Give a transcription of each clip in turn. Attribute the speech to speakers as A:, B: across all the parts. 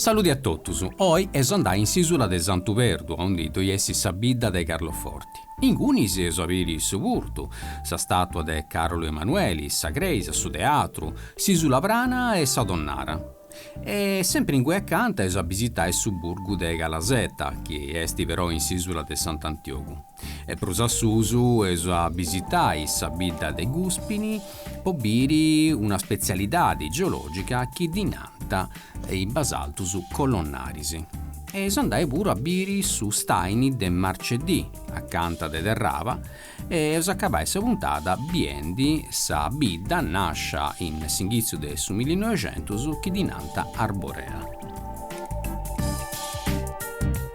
A: Saludi a totus, oi eus andai in s'isula de Santu Perdu aundi ddoi est sa bidda de Carloforti. Ingunis eus a biri su purtu, sa statua de Carolu Emanueli, sa creisa, su teatru, s'Isula Prana e sa tonnara. E sempri ingui acanta eus a bisitai su burgu de Calasetta, chi esti però in s'isula de Sant'Antiogu. e prus a susu eus a bisitai sa bidda de Guspini po biri una spetzialidadi geològica chi ddi nant is basaltus colonnaris e eus a andai puru a biri su staini de Marceddì acanta de Terraba e eus a acabai sa puntada biendi sa bidda nàscia in s'inghìtziu de su millinoixentus chi ddi nant Arborea.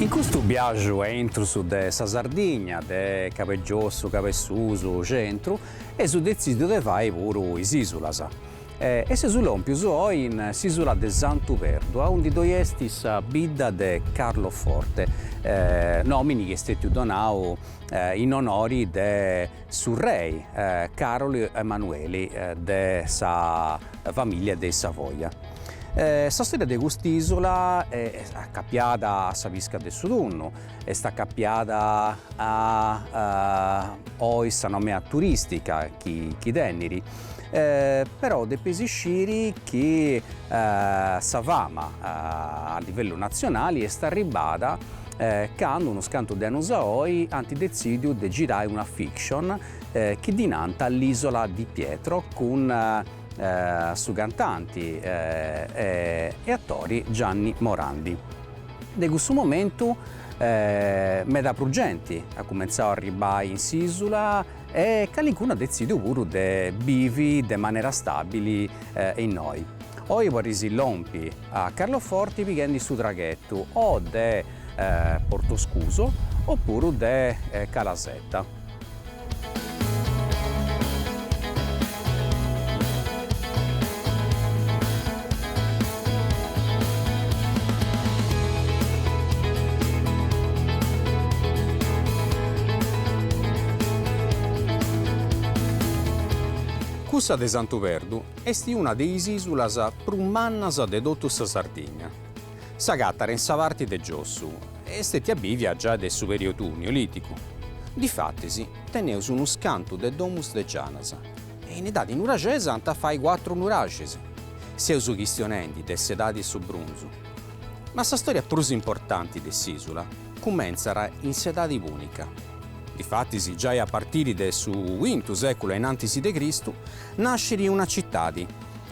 A: In custu biaju a intrus de sa Sardigna, de Cabu 'e Giossu, Cabu 'e Susu, Centru, eus detzìdiu de fai puru is Ìsulas. E seus lòmpius oi in s'Ìsula de Santu Perdu, aundi ddoi est sa bidda de Carloforte, nòmini chi est stètiu donau in onori de su rei Carolu Emanueli de sa famìlia de Savoia. Sa stòria de cust'ìsula est acapiada a sa pisca de su tunnu, est acapiada a oi sa nomea turìstica chi tenit, però depis isciri chi sa fama a livellu natzionali est arribbada candu unus cantu de annus a oi ant detzìdiu de girai una fiction chi ddi nant L'Isola di Pietro cun su cantanti e atori Gianni Morandi. De cussu momentu meda prus genti at cumentzau a arribbai in s'isula e calincunu at detzidiu puru de bivi de manera stabili innoi. Oi podis lompi a Carloforti pighendi su traghetu o de Portoscuso opuru de Calasetta. Cussa de Santu Perdu est una de is ìsulas prus mannas de totu sa Sardigna. S'agatat in sa parti de giossu est stètia bìvia giai de su periotu Neolìticu. Difatis, teneus unu scantu de domus de gianas e in edadi nuraxesa ant a fai cuatru nuraxis. Seus chistionendi de s'edadi 'e su brunzu. Ma sa stòria prus importanti de s'ìsula cumentzat in s'edadi pùnica. Difatis, giai a partiri de su cuintu sèculu a in antis de Cristu, nascit una citadi,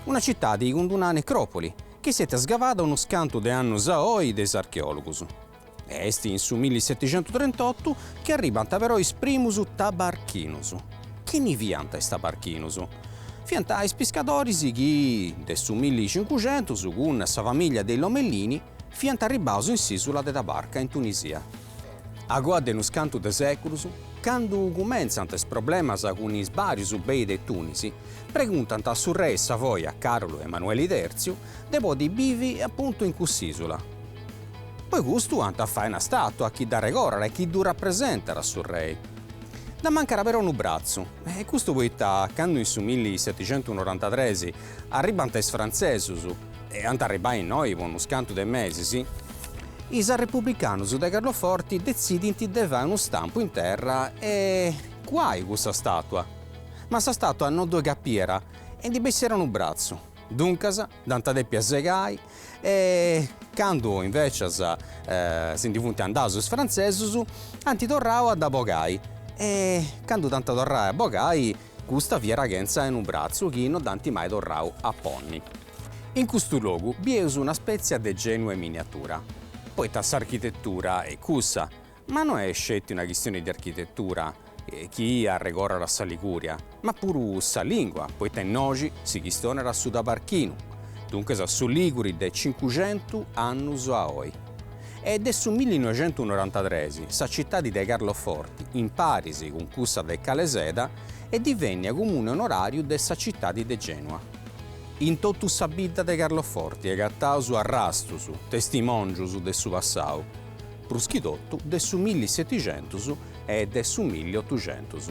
A: una citadi cun una necròpoli, chi est stètia sgavada unus cantu de annus a oi de is archeòlogus. Est in su milliseticentutrentottu chi arribant però is primus tabarchinus. Chini fiant is tabarchinus? Fiant is piscadoris chi, de su millicincucentus, cun sa famìllia de is Lomellini, fiant arribaus in s'ìsula de Tabarca in Tunisia. Agoa de unus cantu de sèculus, candu cumentzant is problemas cun is bàrius bei de Tùnisi, preguntant a su rei Savoia Carlu Emanueli Tèrtziu de podi bivi apuntu in cuss'ìsula. Po custu ant a fai una stàtua chi dd'arregordat e chi ddu rapresentat a su rei. Dd'amancat però unu bratzu, e custu poita candu in su milli setixentu norantatres arribant is frantzesus, e ant a arribai innoi po unus cantu de mesis, is arrepublicanus de Carloforti detzidint de fai unu stampu in terra e cuai cussa statua, ma sa statua no ddoi capiat e ndi bessiat unu bratzu, duncas dd'ant dèpia segai e candu invecias si ndi funt andaus is frantzesus ant torrau a dda bogai e candu dd'ant a torrai a bogai Custa fiat chentza 'e unu bratzu chi no dd'ant mai torrau a ponni. In custu logu bieus una spètzia de Gènua in miniatura, poita s'architetura est cussa, ma no est sceti una chistioni de architetura chi arregordat sa Ligùria, ma puru sa lìngua, poita innoxi si chistionat su tabarchinu, duncas su lìguri de cincuxentu annus a oi. e de su millinoixentunorantatres sa citadi de Carloforti, in paris cun cussa de Caleseda, est divènnia comune onoràriu de sa citadi de Gènua. In totu sa bidda de Carloforti agataus arrastus, testimòngius de su passau, prus chi totu de su milli setixentus e de su milli otuxentus.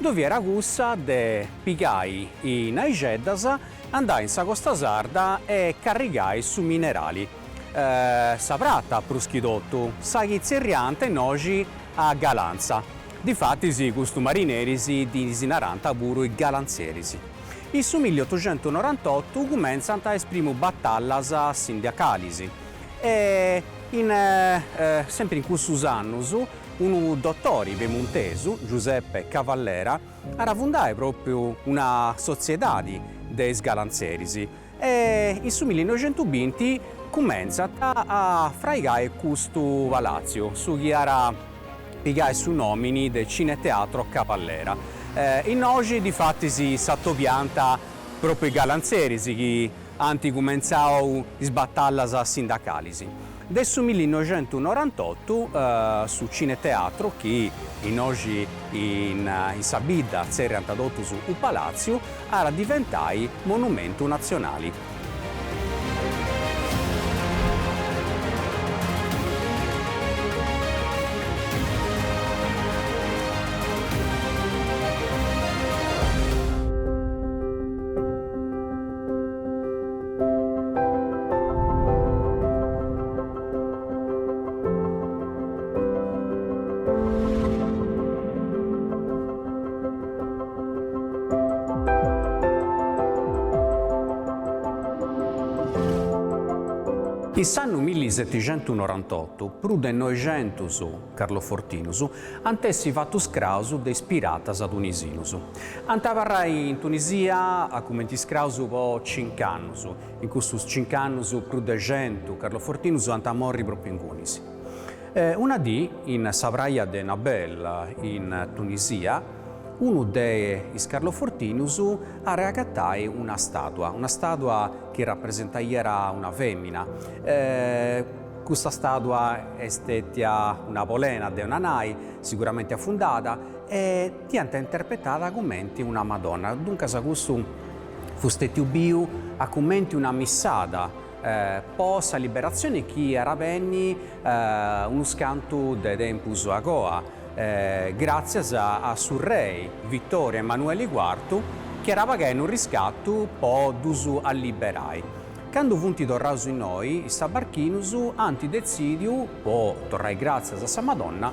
A: Ddoi fiat cussa de pigai is naixeddas, andai in sa costa sarda e carrigai su minerali, sa prata prus chi totu, sa chi tzerriant innoxi a galantza, difatis custus marineris ddis narant puru is galantzeris. In su milli otuxentu norantotu cumentzant is primu batallas sindacalis e in sempri in cussus annus Unu dotori pemuntesu, Giuseppe Cavallera, ara fundai propriu una sotziedadi de is galanzeris e in su millinoixentubinti cumentzant a fraigai custu palatziu, su chi ara pigai su nomini de Cineteatro Cavallera. Innoxi difatis s'atobianta propriu is galanzeris chi Ant cumentzau is batallas sindacalis. De su millinoixentunorantotu su Cineteatru, chi innoxi in sa bidda tzerriant totus su Palàtziu, at a diventai monumentu natzionali. In s'annu milli setixentu norantotu prus de noixentus carlofortinus ant a essi fatus scraus de is piratas tunisinus. Ant a abarrai in Tunisia a cumenti iscraus po cinc'annus. In custus cinc'annus prus de centu carlofortinus ant a morri propriu ingunis. Una dì, in sa praja de Nabeul, in Tunisia, unu de is carlofortinus at a agatai una stàtua, una stàtua chi rapresentaiat una fèmina. Custa stàtua est stètia una polena, de una nai, siguramenti afundada, e Dd'iant interpretada cumenti una Madonna, duncas custu fut stètiu biu a cumenti unu missàgiu po sa liberatzioni chi ara benni unus cantu de tempus agoa, gràtzias a su rei Vittorio Emanueli Cuartu chi ara pagai unu riscatu po ddus liberai. Candu funt torraus innoi is tabarchinus ant detzìdiu, po torrai gràtzias a sa Madonna,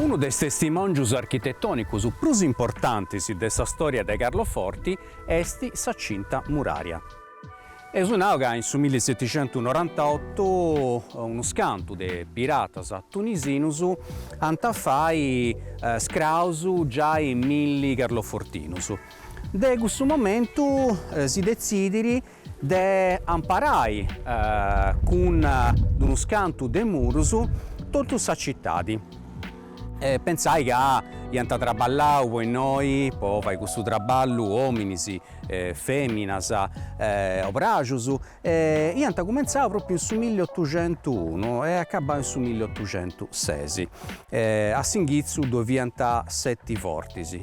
A: Unu de is testimòngius architetònicus prus importantis de sa stòria de Carloforti est sa Cinta Muraria. Eus nau ca in su milli setixentu norantaotu unus cantu de piratas tunisinus ant a fai scraus giai milli carlofortinus. De cussu momentu si detzidit de amparai cun d-unus cantu de murus totu sa tzitadi. E pentzai ca iant traballau po innoi, po fai cussu traballu, ominis, feminas, obrajus, e iant cumentzau propriu in su milli otuxentuunu e acabau in su milli otuxentusesi. A s'inghitzu ddoi fiant seti fortis.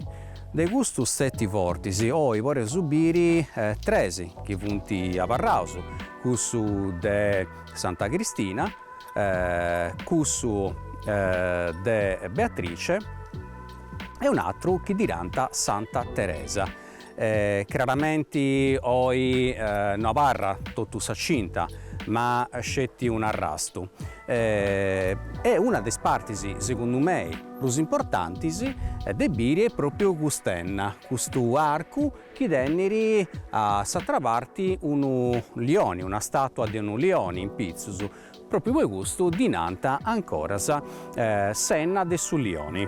A: De custus seti fortis, oi podeus biri tres chi funt abarraus, cussu de Santa Cristina, cussu de Beatrice e un'atru chi ddi nant Santa Teresa. Craramenti oi no abarrat totu sa cinta ma sceti un'arrastu e una de is partis, segundu mei, prus importantis de biri est pròpiu cust'enna, custu arcu chi tenit a s'atra parti unu lioni, una stàtua de unu lioni in pitzus, pròpiu po custu ddi nant ancoras s'enna de su lioni.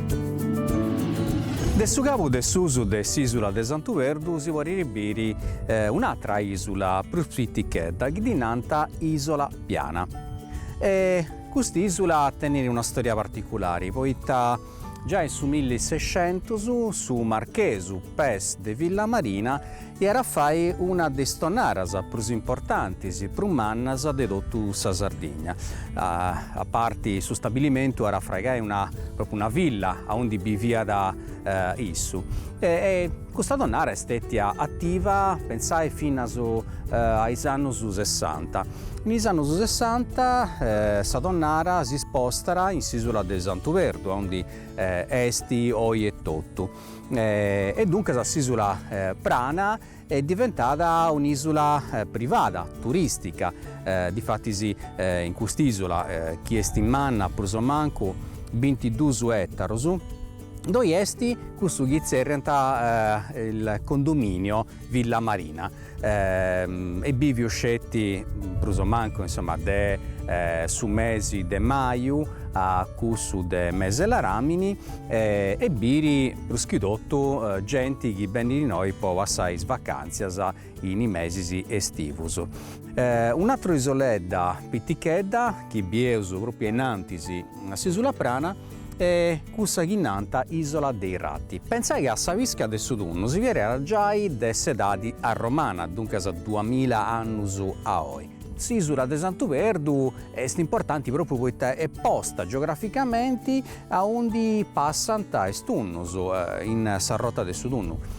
A: De su cabu de susu de s'ìsula de Santu Perdu si podit biri un'atra ìsula prus pitichedda chi ddi nant Ìsola Piana. E cust'ìsula tenit una stòria particulari poita giai in su milli e sescentus su marchesu Pes de Villamarina At a fai una de is tonnaras prus importantis, prus mannas de totu sa Sardigna. A parti su stabilimentu at a fraigai propriu una villa aundi biviat issu. E custa tonnara est stètia ativa pentzai finas a is annus sessanta. In is annus sessanta sa tonnara s'ispostat in s'isula de Santu Perdu aundi est oi etotu. e duncas s'ìsula Prana est diventada un'ìsula privada, turìstica, difatis in cust'ìsula, chi est manna prus o mancu bintiduus ètaros, ddoi est cussu chi tzerriant il condominio Villa Marina, est bìvia sceti prus o mancu insoma de su mesi de maju a cussu de mes''e ladàmini e biri prus chi totu genti chi benit innoi po passai is vacàntzias in is mesis estivus. Un'atra isoledda pitichedda chi bieus pròpriu ainnantis S'isula prana e cussa chi nant Isola dei Ratti. Pentzai ca a sa pisca de su tunnu si fiat giai de s'edadi arromana, duncas duamila annus a oi. S'isula de Santu Perdu est importanti propriu poita est posta geograficamenti aundi passant is tunnus, in sa rota de su tunnu.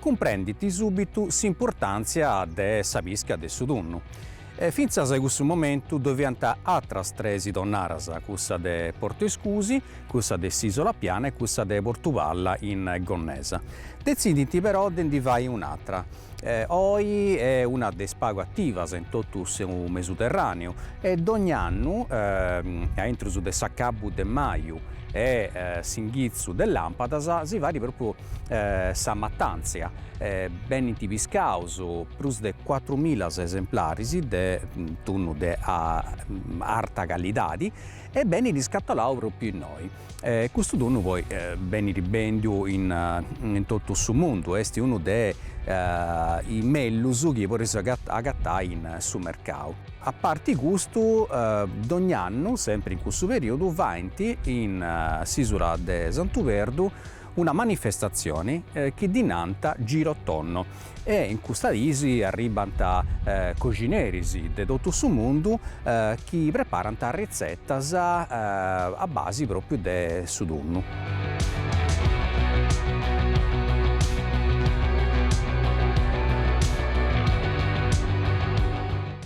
A: cumprendint sùbitu s'importàntzia de sa pisca de su tunnu. Fintzas a cussu momentu ddoe fiant atras tres tonnaras, cussa de Portu Escusi, cussa de s'Isola Piana e cussa de Portu Palla in Gonnesa. Detzidint però de ndi fai un'atra. Oi est una de is pagu ativas in totu su Mesuterràneu e dogna annu, a intrus de s'acabu de maju e s'inghitzu de làmpadas, si fait pròpriu sa matàntzia e benint piscaus prus de cuatrumila esemplaris de tunnu de arta calidadi e benit iscatolau pròpriu innoi. Custu tunnu poi benit bèndiu in totu su mundu, est unu de is mellus chi podeis agatai in su mercau. A parti custu, dogni annu, sempri in cussu perìodu, faint in s'ìsula de Santu Perdu Una manifestatzioni chi ddi nant Girotonno e in custas dis arribbant coxineris de totu su mundu chi preparant ritzetas a basi pròpriu de su tunnu.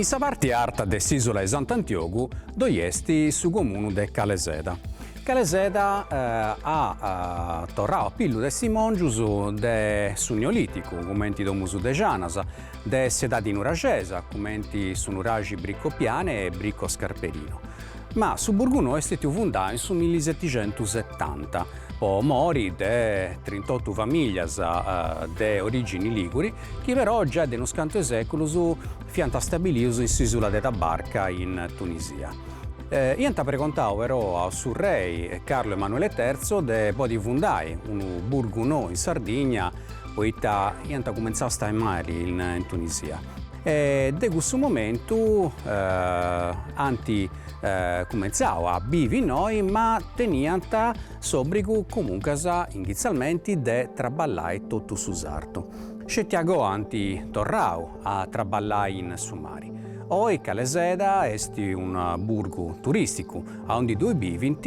A: In sa parti arta de s'Isula de Sant'Antiogu ddoi est su comunu de Caleseda. Caleseda at torradu a pillu testimòngius de su Neolìticu, cumenti domus de janas, De s'edadi nuraxesa, cumenti su nuraxi Bricco Piane e Bricco Scarperino. Ma su burgu nou est stètiu fundau in su millisetixentusetanta, po mori de trintotu famìlias de orìgini lìguri, chi però giai de unus cantu 'e sèculus fiant stabilius in s'ìsula de Tabarka in Tunisia. Iant pregontau però a su rei Carlo Emanuele Terzo de podi fundai unu burgu nou in Sardigna, poita iant cumentzau a stai mali in Tunisia e de cussu momentu ant cumentzau a bivi innoi ma teniant s'obbrigu comuncas initzialmenti de traballai totu su sartu. Sceti a goa ant torrau a traballai in su mari. Oi Caleseda est unu burgu turisticu aundi ddoi bivint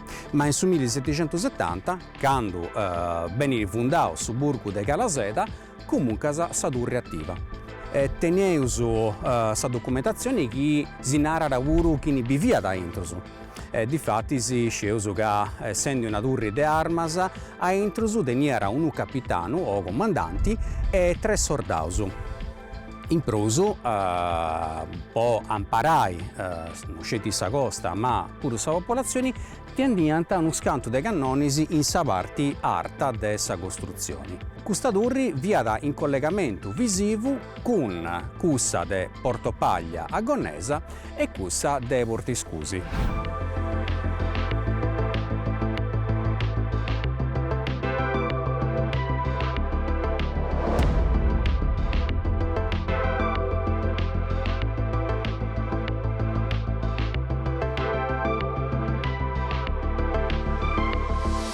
A: Ma in su milliseticentusetanta, candu benit fundau su burgu de Caleseda, comuncas sa turri ativa. Teneus sa documentatzioni chi si narat puru chini biviat a intrus. Difatis iscieus ca essendi una turri de armas, a intrus teniat unu capitanu o comandanti e tres sordaus. In prus, po amparai no sceti sa costa ma puru sa populatzioni, tendiant unus cantu de cannonis in sa parti arta de sa costrutzioni. Custa turri fiat in collegamentu visivu cun cussa de Portopaglia a Gonnesa E cussa de Portiscusi.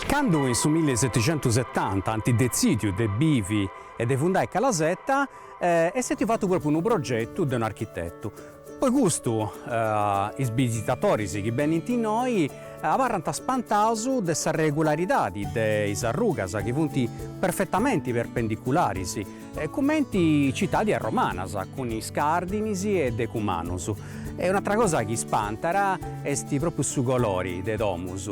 A: Candu in su milli e seticentusetanta ant detzìdiu de bivi e de fundai Calasetta, est stètiu fatu propriu unu progetu de un'architetu, Po custu is bisitatoris chi benint innoi abarrant spantaus de sa regularidadi de is arrugas chi funt perfetamenti perpendicularis, cumenti citadis romanas, cun is cardinis e decumanus. E un'atra cosa chi spantat est pròpriu su colori de domus.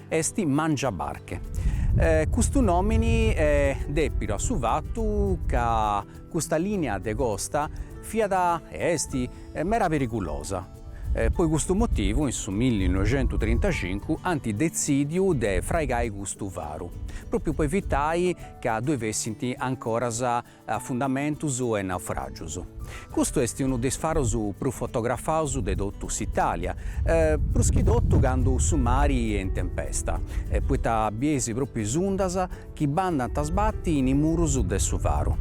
A: Est Mangiabarche. Custu nòmini est dèpidu a su fatu ca custa lìnia de costa fiat e est meda perigulosa. Po custu motivu in su milli noixentu trintacincu ant detzìdiu de fraigai custu faru, pròpiu po evitai ca ddoi fessint ancoras afundamentus e naufràgius. Custu est unu de is farus prus fotografaus de totu s'Itàlia, prus chi totu candu su mari est in tempesta, poita bies pròpiu is undas chi bandant a sbati in is murus de su faru.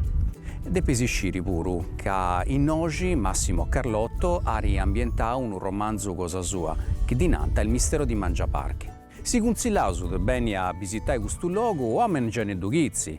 A: Depis sciri puru ca innoxi Massimo Carlotto at ambientau unu romanzu cosa sua, chi ddi nant Il mistero di Mangiabarche. Si cuntzillaus de beni a bisitai custu logu, o a mengianeddu chitzi,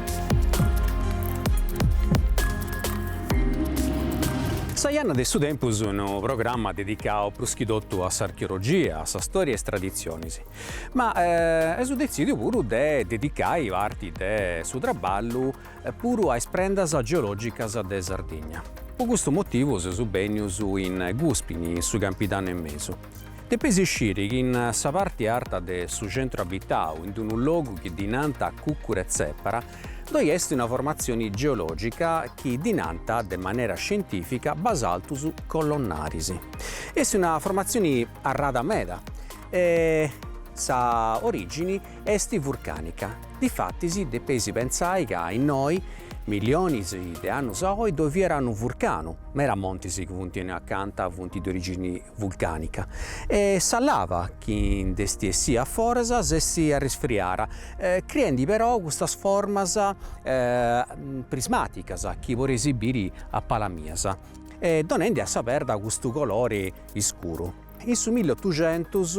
A: Sa Janna de su tempus unu programma dedicadu prus chi totu a s'archeologia, a sa stòria e is traditzionis. Ma amus detzìdiu puru de dedicai parti de su traballu puru a is prendas geològicas de Sardigna. Po custu motivu seus bènnius in Guspini, in su Campidanu 'e Mesu. Depeis isciri chi in sa parti arta de su centru abitau, in unu logu chi ddi nant Cùcuru 'e Tzèpara, ddoi est una formatzioni geològica chi ddi nant, de manera scientìfica, basaltus colonnaris. Est una formatzioni arrada meda e sa orìgini est vurcànica. Difatis depeis pensai ca innoi, milionis de annus a oi, ddoi fiat unu vurcanu, meda montis chi funt innoi acanta funt de orìgini vulcànica, e sa lava chi nd'est essida a foras si est arrisfriada, criendi però custas formas prismàticas chi podeis biri a palas mias, e donendi a sa perda custu colori iscuru. In su milli otuxentus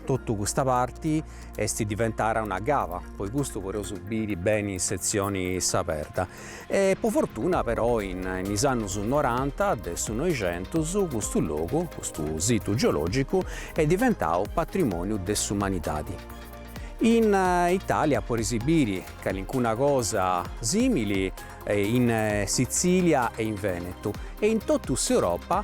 A: totu custa parti est diventada una cava, po custu podeus biri beni in setzioni sa perda. E po fortuna però in is annus noranta de su Noixentus custu logu, custu situ geològicu est diventadu patrimòniu de s'umanidadi. In Itàlia podeis biri calincuna cosa sìmili in Sitzìlia e in Vènetu e in totu s'Europa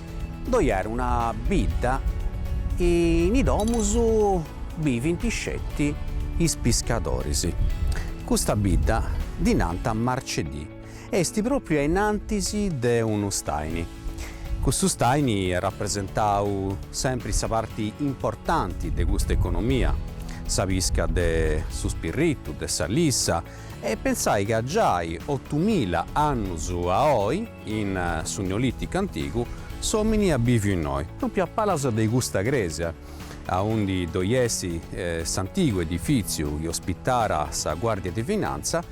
A: Ddoi at una bidda e in is domus bivint sceti is piscadoris. Custa bidda ddi nant Marceddì e est pròpriu ainantis de unu staini. Custu staini at rapresentau sempri sa parti importanti de custa economia, sa pisca de su spirritu, de sa lissa e pensai ca giai otumila annus a oi, In su Neolìticu antigu s'òmini at bìviu innoi, pròpriu a palas de custa crèsia, aundi ddoi est s'antigu edifìtziu chi ospitàt a sa Guàrdia de Finantza,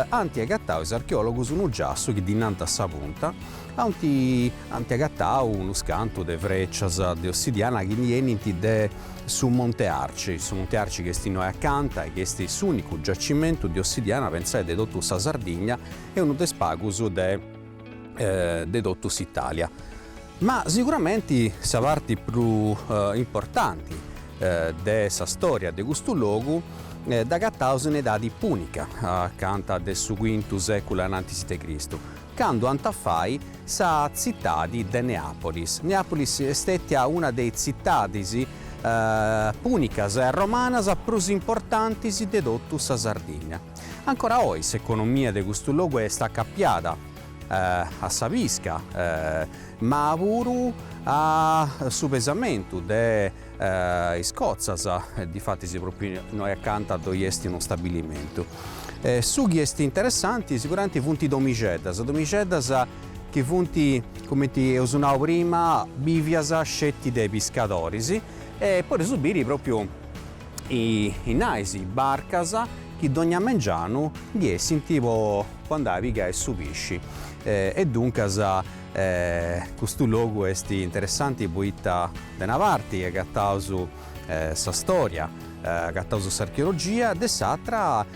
A: ant agatau is archeòlogus unu giassu chi ddi nant Sa Punta, ant agatau unus cantu de frècias de ossidiana chi ndi 'enint de su Monte Arci, su Monte Arci chi est innoi acanta e chi est s'ùnicu giacimentu de ossidiana, pensai, de totu sa Sardigna. e unu de is pagus de totu s'Italia. Ma siguramenti sa parti prus importanti de sa storia de custu logu dd'agataus in edadi pùnica, acanta de su quintu sèculu anantis de Cristu, candu ant a fai sa tzitadi de Neàpolis. Neàpolis est stètia una de is tzitadis pùnicas e romanas prus importantis de totu sa Sardigna. Ancora oi s'economia de custu logu est acapiada a sa pisca ma puru a su pesamentu de is cotzas, difatis propriu innoi acanta ddoi est unu stabilimentu. Su chi est interessanti siguramenti funt is domixeddas, domixeddas chi funt, cumenti eus nau prima, bivias sceti de piscadoris e podeus biri propriu innai is barcas chi dogna mengianu ndi essint po andai a pigai su pisci. E duncas custu logu est interessanti poita de una parti agataus sa storia, agataus s'archeologia, de s'atra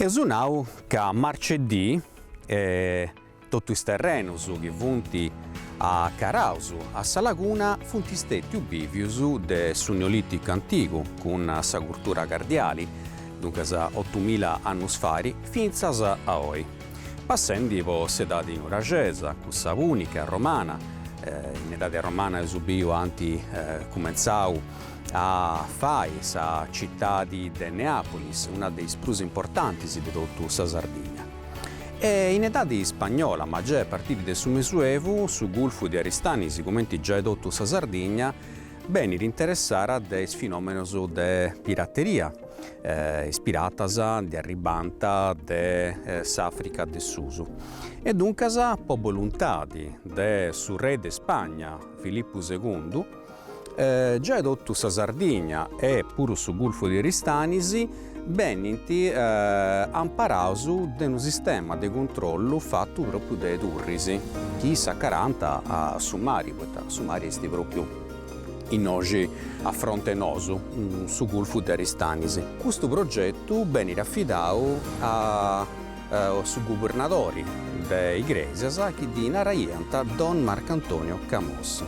A: Eus nau ca Marceddì totu is terrenus chi funt acaraus a sa laguna funt stètius bìvius de su Neolìticu antigu cun sa curtura cardiali, duncas otumila annus fari, fintzas a oi. Passendi po s'edadi nuraxesa, cussa pùnica, romana, in edadi romana eus biu ant cumentzau a fai sa citadi de Neapolis, una de is prus importantis de totu sa Sardigna. E in edadi spagnola, ma giai a partiri de su Mesuevu, su gulfu de Aristanis, cumenti giai totu sa Sardigna, benit interessara de is finòmenos de pirateria, is piratas ndi arribànt de s'Àfrica de susu, e duncas po boluntadi de su re de Spagna Filippu segundu, giai totu sa Sardigna e puru su gulfu de Aristanis, benint amparaus de unu sistema de cuntrollu fatu pròpriu de turris chi s'acarant a su mari, poita su mari est pròpriu innoxi a fronte nosu, su gulfu de Aristanis. Custu progetu benit afidadu a su gubernadori de Igrèsias chi ddi naraiant Don Marcantonio Camos.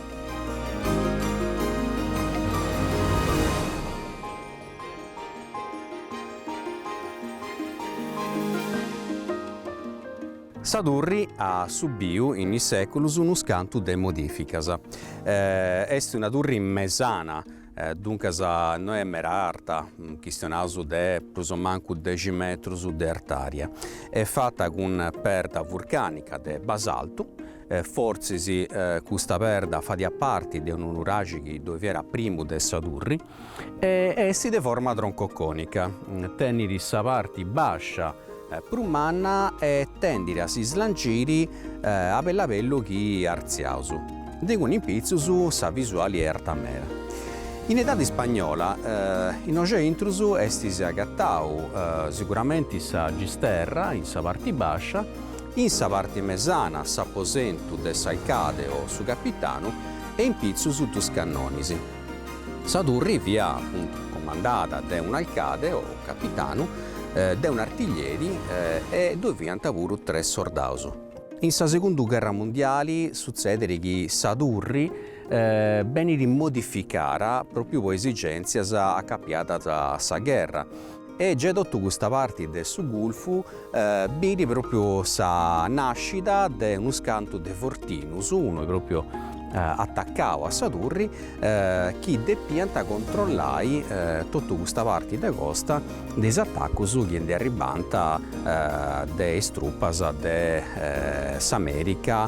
A: Sa turri at subiu in is seculus unu scantu de modificas. Est una turri mesana, duncas no est mera arta, chistionaus de prus o mancu dexi metrus de artària. Est fata cun perda vurcànica de basaltu, Fortzis custa perda fadiat parti de unu nuraxi chi ddoi fiat a primu de sa turri e est de forma troncoconica, tenit sa parti bàscia prus manna e tendit a s'islangiri a bellu a bellu chi artziaus. Duncas in pitzus sa visuali est arta meda. In edadi ispagnola innoi a intrus si agatàt siguramenti sa gisterra in sa parti bàscia In sa parte mesana s'aposentu de s'alcade o su capitanu e in pitzus is duus cannonis. Sa turri fiat appuntu comandada de un'alcade o capitanu, de un'artiglieri e ddue fiant puru tres sordaus. In sa segunda gherra mundiali sutzedet chi sa turri benit modificada propriu po esigèntzias acapiadas a sa gherra. E giai totu custa parti de su Gulfu birit propriu sa nascida de unus cantu de fortinus, unu propriu attaccau a sa turri, chi depianta controllai totu custa parti de costa de is attaccus chi ndi arribbanta de is truppas de s'America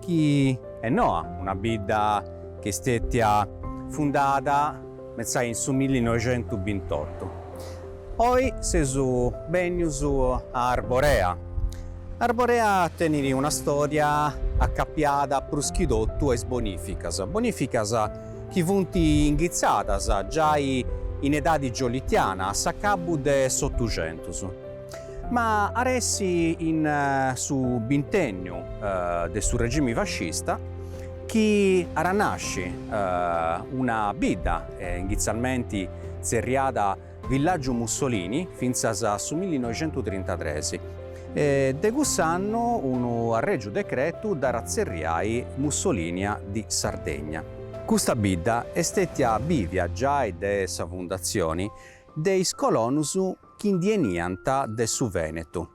A: chi est noa, una bidda chi est stètia fundada scèti in su millinoixentubintotto. Oi seus bènnius a Arborea. Arborea tenit una stòria acapiada prus chi totu a is bonìficas, bonìficas chi funt inghitzadas giai in edadi giolitiana, a s'acabu de s'Otuxentus. Ma at a èssi in su bintènniu de su regimi fascista chi at a nasci una bidda initzialmenti tzerriada Villaggiu Mussolini fintzas a su millinoixentutrintatres e de cuss'annu unu arrègiu decretu dd'at a tzerriai Mussolinia di Sardegna. Custa bidda est stètia bivia giai de sa fundatzioni de is colonus chi ndi 'eniant de su Vènetu.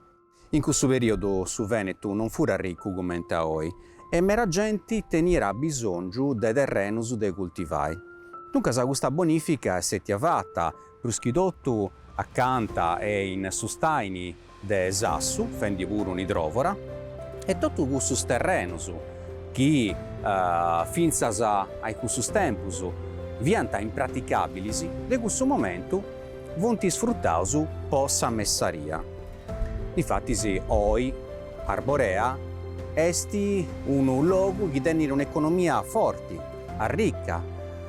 A: In cussu perìodu su Vènetu non furat ricu comente a oi e mera genti teniat abisòngiu de terrenus de cultivai. Duncas custa bonìfica est stètia fata, prus chi totu acanta e in su stàini de Sassu, fendi puru un'idròvora, e totu cussus terrenus chi fintzas a icussus tempus fiant impraticàbilis, de cussu momentu, funt isfrutaus po sa messaria. Difatis oi Arborea est unu logu chi tenit un'economia forti, arrica,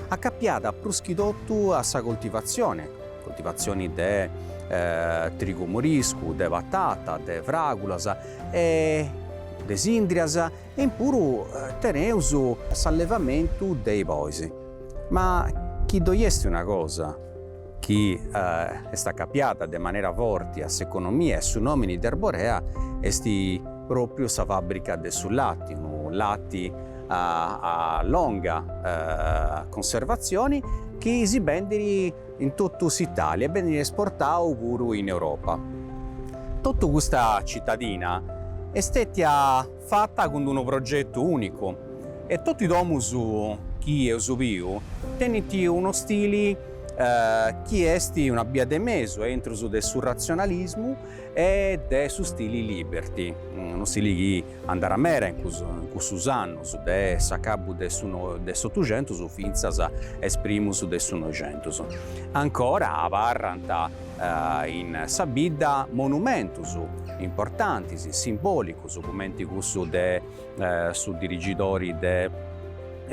A: acapiada prus chi totu a sa coltivatzione, coltivatzione de trigu moriscu, de patata, de fràgulas e de sìndrias E puru teneus s'allevamentu de i bois. Ma chi ddoi esti una cosa chi est acapiada de manera forti a s'economia e su nomini de Arborea esti propriu sa fabbrica de su latti, unu latti a longa conservazioni chi si bendiri in tottu s'Italia e beniri esportau puru in Europa. Tottu custa cittadina est stetia fata cun d'unu progetu ùnicu e totu is domus chi eus biu tenint unu stili chi est una bia de mesu intrus de su ratzionalismu e de su stili liberty, unu stili chi andarat meda in cussus annus de s'acabu de s'Otuxentus fintzas a is primus de su Noixentus. Ancora abarrant in sa bidda monumentus importantis, simbòlicus, cumenti cussu de su dirigidori de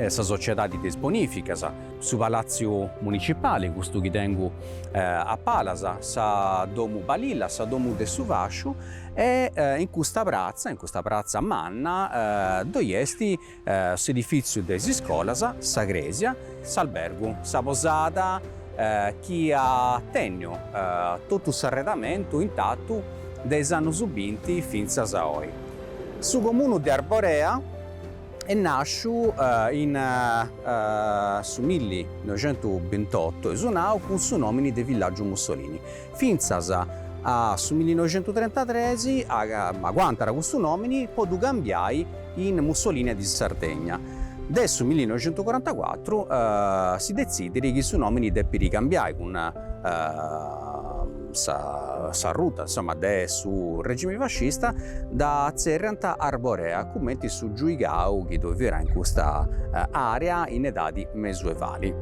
A: sa sociedadi de is bonificas, su palaziu municipali, custu chi tengu a palas, sa domu Balilla, sa domu de su fasciu e in custa pratza, in custa pratza manna, ddoi esti s'edifìtziu de is iscolas, sa crèsia, s'albergu, sa posada, chi at tènniu totu s'arredamentu intatu de is annus binti fintzas a oi. Su comunu de Arborea est nàsciu in su milli noixentu bintotu, e su nau cun su nòmini de Villaggiu Mussolini. fintzas a su millinoixentutrentatres aguantat custu nòmini po ddu cambiai in Mussolìnia di Sardegna. De su millinoixentucorantacuatru si detzidit chi su nòmini depit cambiai cun s'arruta insoma de su regimi fascista dda tzerriant Arborea cumenti su giuigau chi ddoi fiat in custa àrea in edadi mesuevali.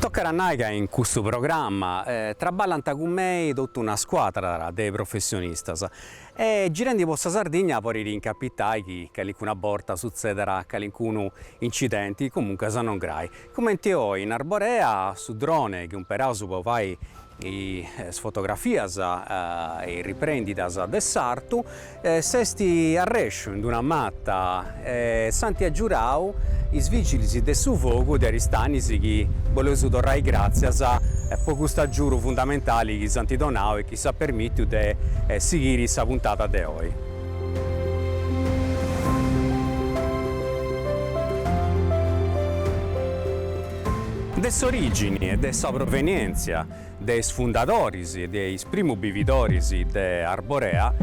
A: Tocat a nai ca in custu programma traballant cun mei totu una scuadra de professionistas e girendi po sa Sardigna podit incapitai chi calincuna borta sutzedat calincunu incidenti, comuncas non grai. Cumenti oi in Arborea, su drone chi umperaus po fai is fotografias e is riprendidas de s'artu s'est arrèsciu in d'una mata e s'ant agiudau is vigilis de su fogu de Aristanis chi boleus torrai gràtzias po custu agiudu fundamentali chi s'ant donau e chi s'at permìtiu de sighiri sa puntada de oi. De s'orìgini e de sa provenièntzia de is fundadoris e de is primus bividoris de Arborea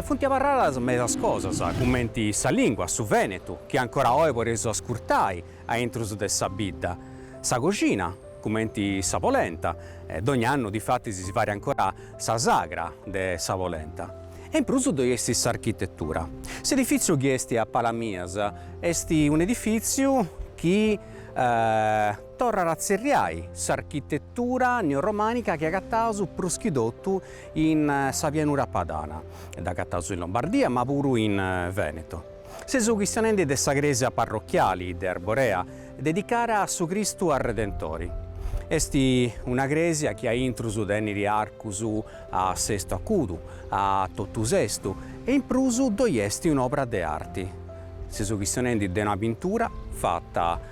A: funt abarradas medas cosas, cumenti sa lìngua, su vènetu, chi ancora oe podeus ascurtai a intrus de sa bidda, sa coxina, cumenti sa polenta, dogn'annu difatis si fait ancora sa sagra de sa polenta, e in prus ddoi est s'architetura. S'edifìtziu chi est a palas mias est un'edifìtziu chi torrat a tzerriai s'architetura neorromànica chi agataus prus chi totu in sa pianura padana, dd'agataus in Lombardia ma puru in Vèneto. Seus chistionendi de sa crèsia parrochiali de Arborea dedicara a su Cristu Arredentori. Est una cresia chi a intrus tenit arcus a sestu acudu, a totu sestu e in prus ddoi est un'obra de arti. Seus chistionendi de una pintura fata.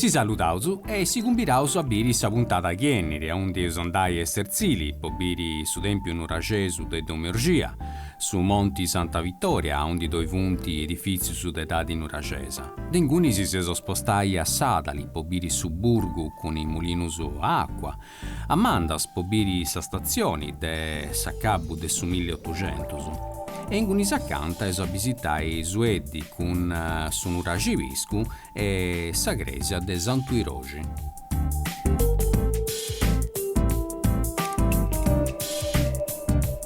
B: Si saludaus e si cumbiraus a biri sa puntada chi 'ènniri aundi eus a andai a Esterzili po biri su tempiu nuraxesu de Domu 'e Orgia, su Monti Santa Vittoria aundi ddoi funti edifizius de edadi nuraxesa. De inguni si eus a spostai a Sadali po biri su burgu cun is mulinus a acua, a Mandas po biri sa statzioni de s'acabu de su milli otuxentus. E inguni acanta eus a bisitai Sueddi cun su Nuraxi Piscu e sa crèsia de Santu Iroxi.